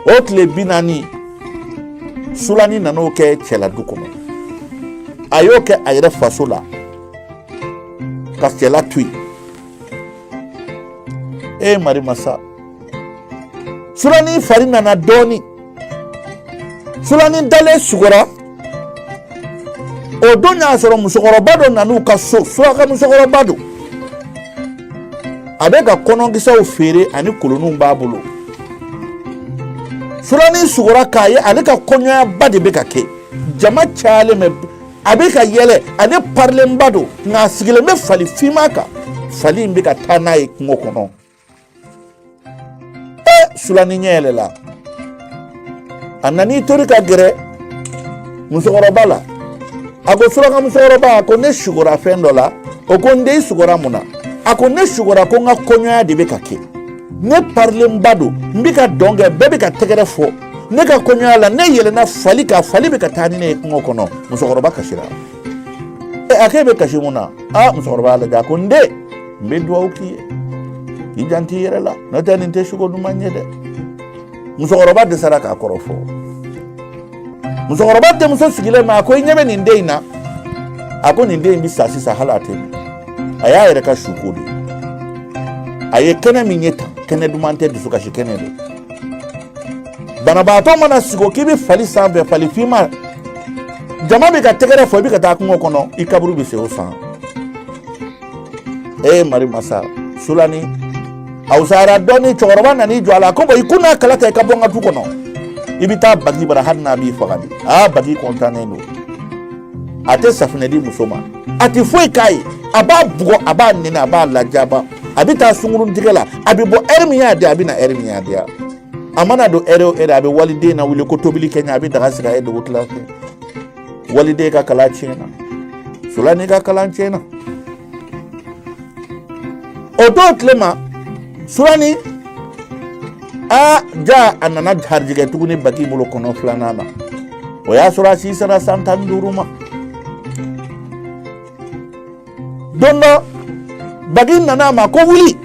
o tile bi naani sulani nan'o kɛ cɛla du kɔnɔ a y'o kɛ a yɛrɛ faso la ka cɛla to yen e mari masa sulani fari nana dɔɔni sulani dalen sugora o don y'a sɔrɔ musokɔrɔba dɔ nan'u ka so suraka musokɔrɔba don a bɛ ka kɔnɔkisɛw feere ani kolonninw b'a bolo sulani sugora k'a ye ale ka kɔɲɔyaba de bɛ ka kɛ jama cayalen bɛ a bɛ ka yɛlɛ ale parilenba don nka a sigilen bɛ fali finma kan fali in bɛ ka taa n'a ye kungo kɔnɔ sulani ɲɛ yɛlɛla a nan'i tori ka gɛrɛ musokɔrɔba la a ko suraka musokɔrɔba a ko ne sugora fɛn dɔ la o ko n den i sugora mun na a ko ne sugora ko n ka kɔɲɔya de bɛ ka kɛ ne parilenba don n bɛ ka dɔn kɛ bɛɛ bɛ ka tɛgɛrɛ fɔ ne ka kɔɲɔya la ne yɛlɛnna fali kan fali bɛ ka taa ni ne ye kungo kɔnɔ musokɔrɔba kasira a k'e bɛ kasi mun na aa musokɔrɔba y'a lajɛ a ko n den n bɛ dugawu k'i ye k'i janto i yɛrɛ la n'o tɛ nin tɛ suko duman ye dɛ musokɔrɔba dɛsɛra k'a kɔrɔ fɔ musokɔrɔba denmuso sigilen ma a ko i ɲɛ bɛ nin den in na a ko nin den in bɛ sa sisan hali a tɛ mɛn a y'a yɛrɛ ka suko de a ye kɛnɛ min ye tan kɛnɛ duman tɛ dusukasi kɛnɛ de banabaatɔ mana sigi k'i bɛ fali sanfɛ fali finma jama bɛ ka tɛgɛrɛ fɔ i bɛ ka taa kungo kɔnɔ i kaburu bɛ sen o san e mari masa sulani a wusayara dɔɔni cɛkɔrɔba nan'i jɔ a la ko bɔn i ko n'a kala ta i ka bɔ n ka du kɔnɔ i bɛ taa bagi bara hali n'a b'i faga de aa bagi kɔntannen don a tɛ safunɛ di muso ma a tɛ foyi k'a ye a b'a bugɔ a b'a nɛni a b'a lajaba a bɛ taa sungurun tigɛ la a bɛ bɔ ɛri min y'a diya a bɛ na ɛri min y'a diya a mana don ɛri o ɛri a bɛ waliden lawuli ko tobili kɛ n ye a bɛ daga sigi a ye dugutila fɛ waliden ka kalan tiɲɛna sulani ka kalan tiɲɛna o don tile ma sulani a ja a nana garijɛgɛ tuguni bagi bolo kɔnɔ filanan na o y'a sɔrɔ a si sera san tan ni duuru ma don dɔ bagi nana a ma ko wuli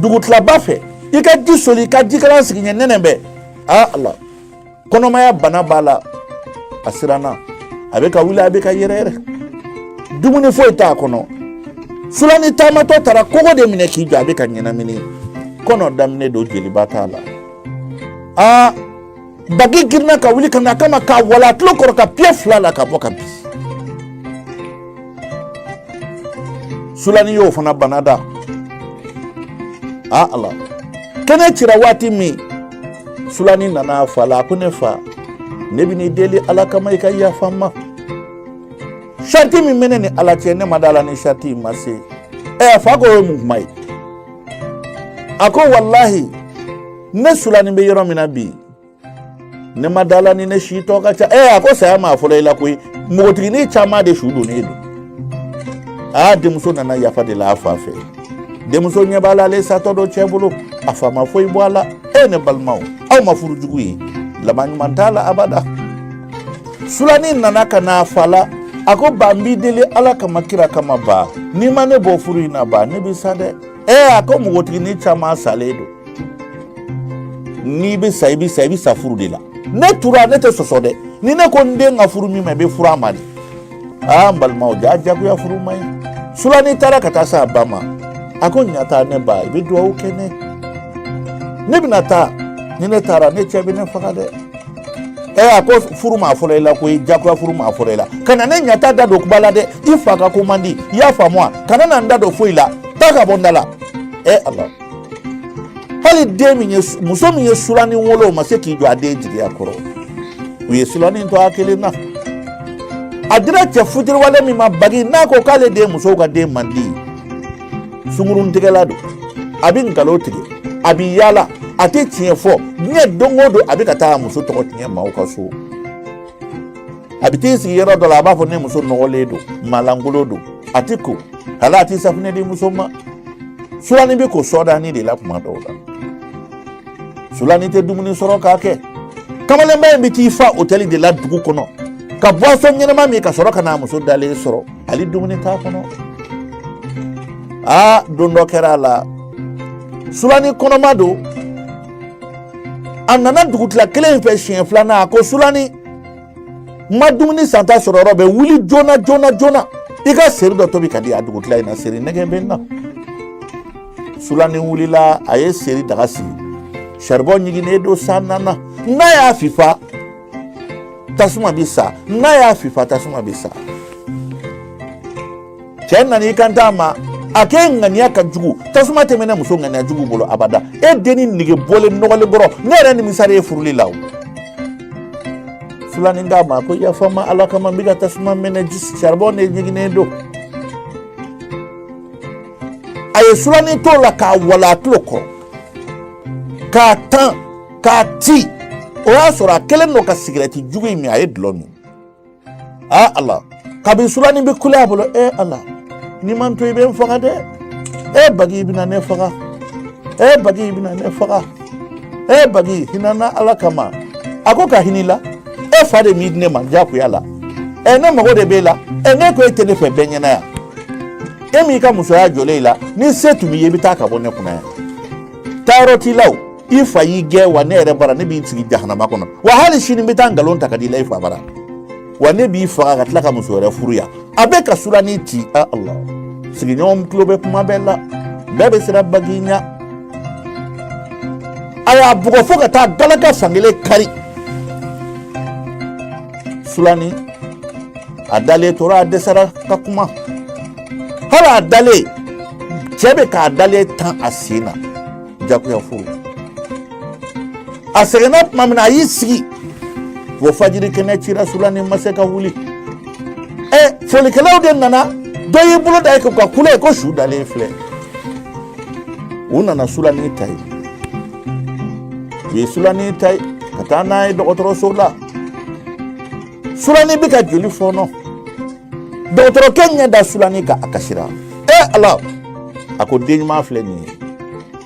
dugutilaba fɛ i ka ji soli i ka jikalan sigi n ye nɛnɛ bɛ a la kɔnɔmaya bana b'a la a siranna a bɛ ka wuli a bɛ ka yɛrɛ yɛrɛ dumuni foyi t'a kɔnɔ sulani taamatɔ taara kogo de minɛ k'i jɔ a bɛ ka ɲɛnamini kɔnɔ daminɛ don jeliba t'a la aa bagi girinna ka wuli ka na a kama k'a walon a tulo kɔrɔ ka piye fila la ka bɔ ka bin sulani y'o fana bana da a ala kɛnɛ cira waati min sulani nana a fa la a ko ne fa ne bɛn'i deli ala kama i ka yafa n ma sariti min bɛ ne ni ala cɛ ne ma da la ni sariti in ma se ɛ a fa ko o ye mun kuma ye a ko walahi ne sulani bɛ yɔrɔ min na bi ne ma da la ni ne si tɔ ka ca ɛ a ko saya ma fɔlɔ i la koyi npogotiginin caman de su donnen don aa denmuso nana yafa deli a fa fɛ denmuso ɲɛ b'a la ale satɔ don cɛ bolo a fa ma foyi bɔ a la e ne balimaw aw ma furu jugu ye laban ɲuman t'a la abada sulani nana ka na a fa la a ko ba n b'i deli ala kama kira kama ba n'i ma ne bɔ furu in na ba ne bɛ sa dɛ ɛ a ko npogotiginin caman salen don n'i bɛ sa i bɛ sa i bɛ sa furu de la ne tora ne tɛ sɔsɔ dɛ ni ne ko n den ka furu min ma i bɛ furu a ma de aa n balimaw ja jagoya furu man ɲi sulani taara ka taa s'a ba ma a ko ɲata ne ba i bɛ dugawu kɛ n ye ne bɛna taa ni ne taara ne cɛ bɛ ne faga dɛ ɛ a ko furu ma fɔlɔ i la koyi jagoya furu ma fɔlɔ i la kana ne ɲata da don kuma la dɛ i fa ka ko man di i y'a faamu wa kana na n da don foyi la taa ka bɔ n da la ɛ ala hali den min ye muso min ye sulani wolo o ma se k'i jɔ a den jigiya kɔrɔ u ye sulani to a kelen na a dira cɛ futiriwale min ma bagi n'a ko k'ale den musow ka den man di sunguruntigɛla don a bɛ nkalo tigɛ a bɛ yaala a tɛ tiɲɛ fɔ diɲɛ don o don a bɛ ka taa a muso tɔgɔ tiɲɛ maaw ka so a bɛ t'i sigi yɔrɔ dɔ la a b'a fɔ ne muso nɔgɔlen don maa lankolon don a tɛ ko hali a tɛ safunɛ di muso ma sulani bɛ ko sɔdani de la kuma dɔw la sulani tɛ dumuni sɔrɔ k'a kɛ kamalenba in bɛ t'i fa otɛli de la dugu kɔnɔ ka bɔsɔn ɲɛnama min ka sɔrɔ ka n'a muso dalen sɔrɔ hali dumuni t'a kɔnɔ aa don dɔ kɛra a la sulani kɔnɔma don a nana dugutila kelen in fɛ siɲɛ filanan a ko sulani ma dumuni santa sɔrɔ yɔrɔ bɛ wuli joona joona joona i ka seri dɔ tobi ka di a dugutila in na seri nege bɛ n na sulani wulila a ye seri daga sigi saribɔn ɲiginnen don san nana n'a y'a fifa tasuma bɛ sa n'a y'a fifa tasuma bɛ sa cɛ nana i kant'a ma a k'e ŋaniya ka jugu tasuma tɛ mɛnɛ muso ŋaniya jugu bolo abada e denni nege bɔlen nɔgɔlen bɔrɔ ne yɛrɛ nimisara e furuli la o sulani k'a ma ko yafa n ma ala kama n bɛ ka tasuma mɛnɛ saribɔn de ɲiginnen don a ye sulani t'o la k'a walon a tulo kɔrɔ k'a tan k'a ti o y'a sɔrɔ a kɛlen don ka sigirɛti jugu in min a ye dulɔ min aa ala kabini sulani bɛ kule a bolo e ala n'i ma n to i bɛ n faga dɛ e bagi i bɛna ne faga e bagi i bɛna ne faga e bagi hina n na ala kama a ko ka hin'i la e fa de m'i di ne ma diyagoya la ɛ ne mago de b'e la ɛ ne ko e tɛ ne fɛ bɛɛ ɲɛna yan e m'i ka musoya jɔlen i la ni se tun b'i ye i bɛ taa ka bɔ ne kunna yan taayɔrɔ t'i la o i fa y'i gɛn wa ne yɛrɛ bara ne b'i sigi jahanama kɔnɔ wa hali sini n bɛ taa nkalon ta ka d'i la i fa bara wa ne b'i faga ka tila ka muso wɛrɛ furu yan a bɛ ka sulani ci a ala sigiɲɔgɔn tulo bɛ kuma bɛɛ la bɛɛ bɛ siran bagi ɲa a y'a bugɔ fo ka taa galaka fankelen kari sulani a dalen tora a dɛsɛra ka kuma hali a dalen cɛ bɛ k'a dalen tan a sen na jagoya furu a sɛgɛnna tuma min na a y'i sigi fo fajiri kɛnɛ cira sulani ma se ka wuli ɛ folikɛlaw de nana dɔ y'i bolo da i kun ka kule ko su dalen filɛ u nana sulani ta yen u ye sulani ta yen ka taa n'a ye dɔgɔtɔrɔso la sulani bɛ ka joli fɔɔnɔ dɔgɔtɔrɔkɛ ɲɛ da sulani kan a kasira e ala a ko den ɲuman filɛ nin ye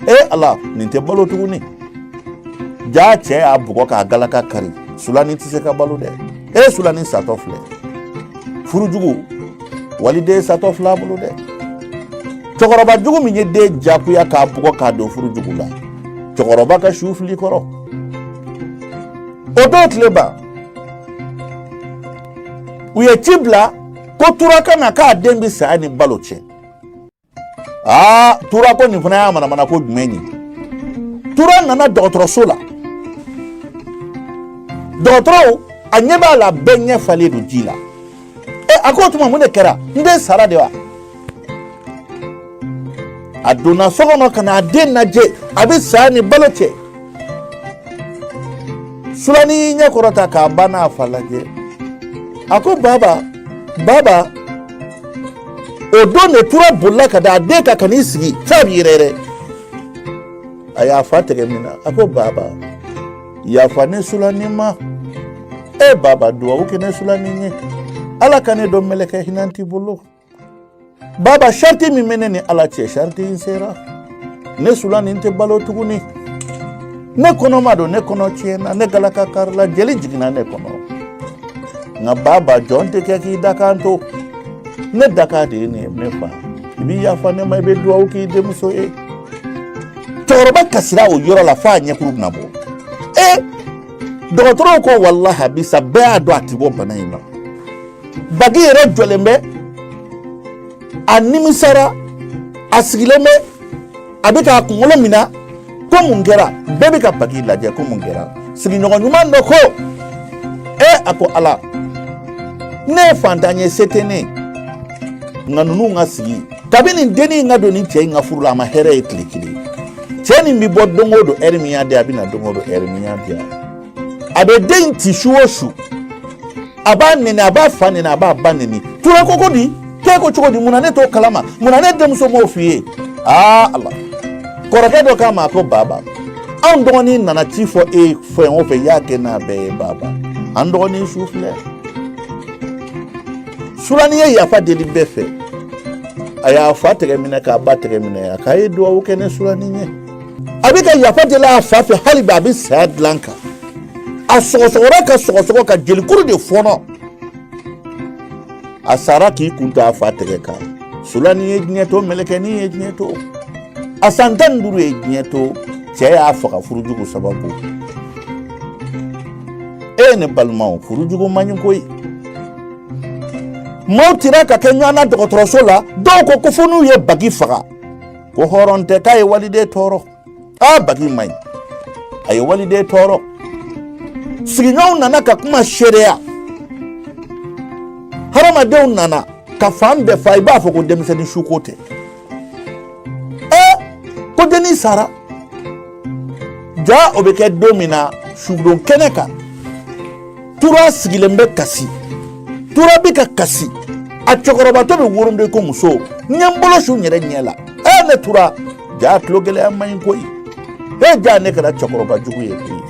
e ala nin tɛ balo tuguni jaa cɛ y'a bugɔ k'a galaka kari sulani tɛ se ka balo dɛ e sulani satɔ filɛ furu jugu waliden satɔ filɛ a bolo dɛ cɛkɔrɔba jugu min ye den jagoya k'a bugɔ k'a don furu jugu la cɛkɔrɔba ka su fili kɔrɔ o don tile ban u ye ci bila ko tura ka na k'a den bɛ saya ni balo cɛ aa tura ko nin fana y'a manamana ko jumɛn ye tura nana dɔgɔtɔrɔso la dɔgɔtɔrɔw a ɲɛ b'a la bɛɛ ɲɛ falen don ji la e a ko o tuma mun de kɛra n den sara de wa a donna so kɔnɔ ka n'a den lajɛ a bɛ saya ni balo cɛ sulani y'i ɲɛ kɔrɔta k'a ba n'a fa lajɛ a ko baba baba o don de tura bolila ka da a den kan ka n'i sigi f'a bɛ yɛrɛyɛrɛ a y'a fa tɛgɛ mina a ko baba yafa ne sulani ma e baba duwawu kɛ ne sulani ye ala ka ne don mɛlɛkɛ hinɛnti bolo baba shariti min bɛ ne ni ala cɛ shariti in sera ne sulani tɛ balo tuguni ne kɔnɔma don ne kɔnɔ tiɲɛna ne galaka karila jeli jiginna ne kɔnɔ nka baba jɔn tɛ kɛ k'i dakan to ne dakan de ye nin ye ne fa i bɛ yafa ne ma i bɛ dugawu k'i denmuso ye cɛkɔrɔba kasira o yɔrɔ la f'a ɲɛkuru bɛna bɔ ee dɔgɔtɔrɔw ko walahi bi sa bɛɛ y'a dɔn a ti bɔ bana in na baki yɛrɛ jɔlen bɛ a nimisara a sigilen bɛ a bɛ k'a kunkolo mina ko mun kɛra bɛɛ bɛ ka baki lajɛ ko mun kɛra sigiɲɔgɔn ɲuman dɔ ko e a ko ala ne ye fantan ye se tɛ ne nka ninnu ka sigi kabini nin dennin in ka don nin cɛ in ka furu la a ma hɛrɛ ye tile kelen cɛ nin bɛ bɔ don o don ɛri min y'a diya a bɛ na don o don ɛri min y'a diya a bɛ den in ci su o su a b'a nɛni a b'a fa nɛni a b'a ba nɛni tura ko ko di k'e ko cogo di mun na ne t'o kalama mun na ne denmuso m'o f'i ye aa ala kɔrɔkɛ dɔ k'a ma ko baba anw dɔgɔnin nana ci fɔ e fɛn o fɛn y'a kɛ n'a bɛɛ ye baba an dɔgɔnin su filɛ sulani ye yafa deli bɛɛ fɛ a y'a fa tɛgɛ minɛ k'a ba tɛgɛ minɛ a k'a ye duwawu kɛ ne sulani ye a bɛ ka yafa deli a fa fɛ hali bi a bɛ saya dilan kan a sɔgɔsɔgɔra ka sɔgɔsɔgɔ ka jelikuru de fɔnɔ a sara k'i kun to a fa tɛgɛ kan sulani ye diɲɛ to mɛlɛkɛnin ye diɲɛ to a san tan ni duuru ye diɲɛ to cɛ y'a faga furujugu sababu e ne balimaw furujugu man ɲi koyi maaw tira ka kɛ ɲɔgɔn na dɔgɔtɔrɔso la dɔw ko ko fo n'u ye bagi faga ko hɔrɔn tɛ k'a ye waliden tɔɔrɔ aa baki man ɲi a ye waliden tɔɔrɔ sigiɲɔgɔnw nana ka kuma seereya hadamadenw nana ka fan bɛɛ fa i b'a fɔ ko denmisɛnnin suko tɛ ɛ ko dennin sara ja o bɛ kɛ don min na sudon kɛnɛ kan tura sigilen bɛ kasi tura bɛ ka kasi a cɛkɔrɔbatɔ bɛ wooro dɛ ko muso n ye n bolo su n yɛrɛ ɲɛ la ɛ ne tura ja tulogɛlɛya man ɲi koyi e ja ne kɛra cɛkɔrɔba jugu ye koyi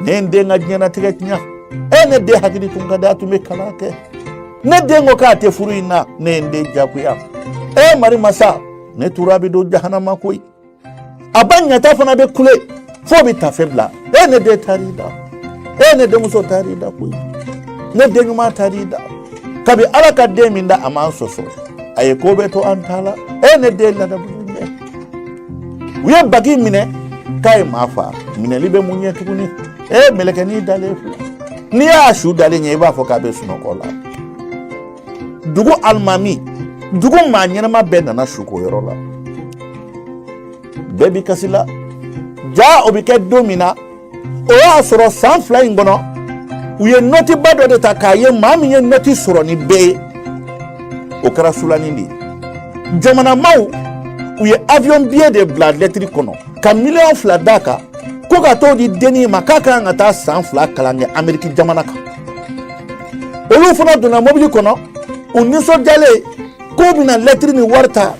ne ye n den ka diɲɛnatigɛ tiɲɛ e ne den hakili tun ka di a tun bɛ kalan kɛ ne den ko k'a tɛ furu in na ne ye n den jagoya e mari masa ne tura bɛ don jahanama koyi a ba ɲata fana bɛ kule f'o bɛ tafe bila e ne den taar'i da e ne denmuso taar'i da koyi ne den ɲuman taar'i da kabi ala ka den nin da a m'an sɔsɔ a ye ko bɛɛ to an ta la e ne den ladamu dɛ u ye baki minɛ k'a ye maa fa minɛli bɛ mun ɲɛ tuguni e mɛlɛkɛnin dalen filɛ n'i y'a su dalen ye i b'a fɔ k'a bɛ sunɔgɔ la dugu alimami dugu maa ɲɛnama bɛɛ nana suko yɔrɔ la bɛɛ bi kasi la jaa o bɛ kɛ don min na o y'a sɔrɔ san fila in kɔnɔ u ye nɔtiba dɔ de ta k'a ye maa min ye nɔti sɔrɔ ni bɛɛ ye o kɛra sulani de ye jamana maaw u ye avion biye de bila lɛtiri kɔnɔ ka miliyɔn fila d'a kan ko ka t'o di dennin ma k'a ka kan ka taa san fila kalan kɛ ameriki jamana kan olu fana donna mobili kɔnɔ u nisɔndiyalen k'u bɛna lɛtiri ni wari ta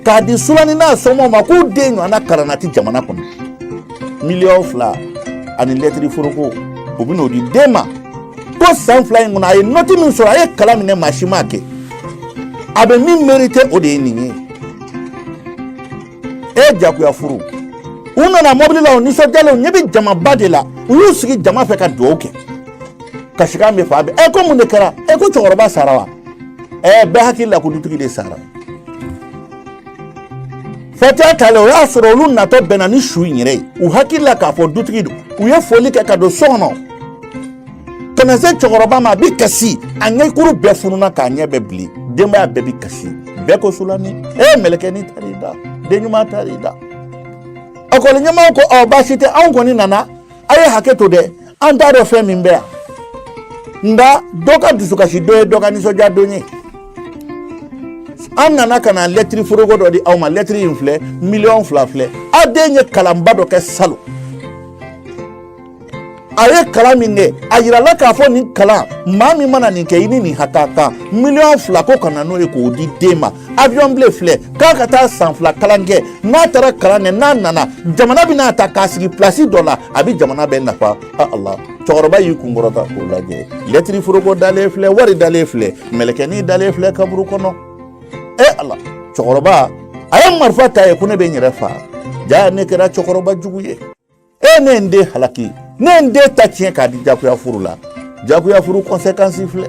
k'a di sulani n'a somaaw ma k'u den ɲɔgɔnna kalanna ti jamana kɔnɔ miliyɔn fila ani lɛtiri foroko u bɛn'o di den ma ko san fila in kɔnɔ a ye nɔti min sɔrɔ a ye kalan min kɛ maa si m'a kɛ a bɛ min merite o de ye nin ye e jagoya furu u nana mɔbili la u nisɔndiyalen u ɲɛ bɛ jamaba de la u y'u sigi jama fɛ ka dugawu kɛ kasikan bɛ fan bɛɛ ɛ ko mun de kɛra ɛ ko cɛkɔrɔba sara wa ɛ bɛɛ hakili la ko dutigi de sara fatiya talen o y'a sɔrɔ olu natɔ bɛnna ni su in yɛrɛ ye u hakili la k'a fɔ dutigi don u ye foli kɛ ka don so kɔnɔ ka na se cɛkɔrɔba ma a bɛ kasi a ɲɛkuru bɛɛ fununa k'a ɲɛ bɛɛ bilen denbaya bɛɛ bɛ kasi bɛɛ ko sulani e mɛlɛkɛni taara da den ɲuman taara da ekɔli ɲɛmɔgɔ ko ɔ baasi tɛ anw kɔni nana a ye hakɛ to dɛ an t'a dɔn fɛn min bɛ yan nka dɔ ka dusukasi don ye dɔ ka nisɔndiya don ye an nana ka na lɛtiri foroko dɔ di aw ma lɛtiri in filɛ miliyɔn fila filɛ aw den ye kalanba dɔ kɛ salon a ye kalan min kɛ a yirala k'a fɔ nin kalan maa min mana nin kɛ i ni nin hakɛ ka kan miliyɔn fila ko ka na n'o ye k'o di den ma avion biye filɛ k'a ka taa san fila kalan kɛ n'a taara kalan kɛ n'a nana jamana bɛn'a ta k'a sigi pilasi dɔ la a bɛ jamana bɛɛ nafa a ala cɛkɔrɔba y'i kun kɔrɔta k'o lajɛ lɛtiri foroko dalen filɛ wari dalen filɛ mɛlɛkɛnin dalen filɛ kaburu kɔnɔ e ala cɛkɔrɔba a ye marifa ta yen ko ne bɛ n yɛrɛ faa jaa ne kɛra cɛkɔrɔba jugu ye e ne n den halaki ne n den ta tiɲɛ k'a di jagoya furu la jagoya furu kɔnsekansi filɛ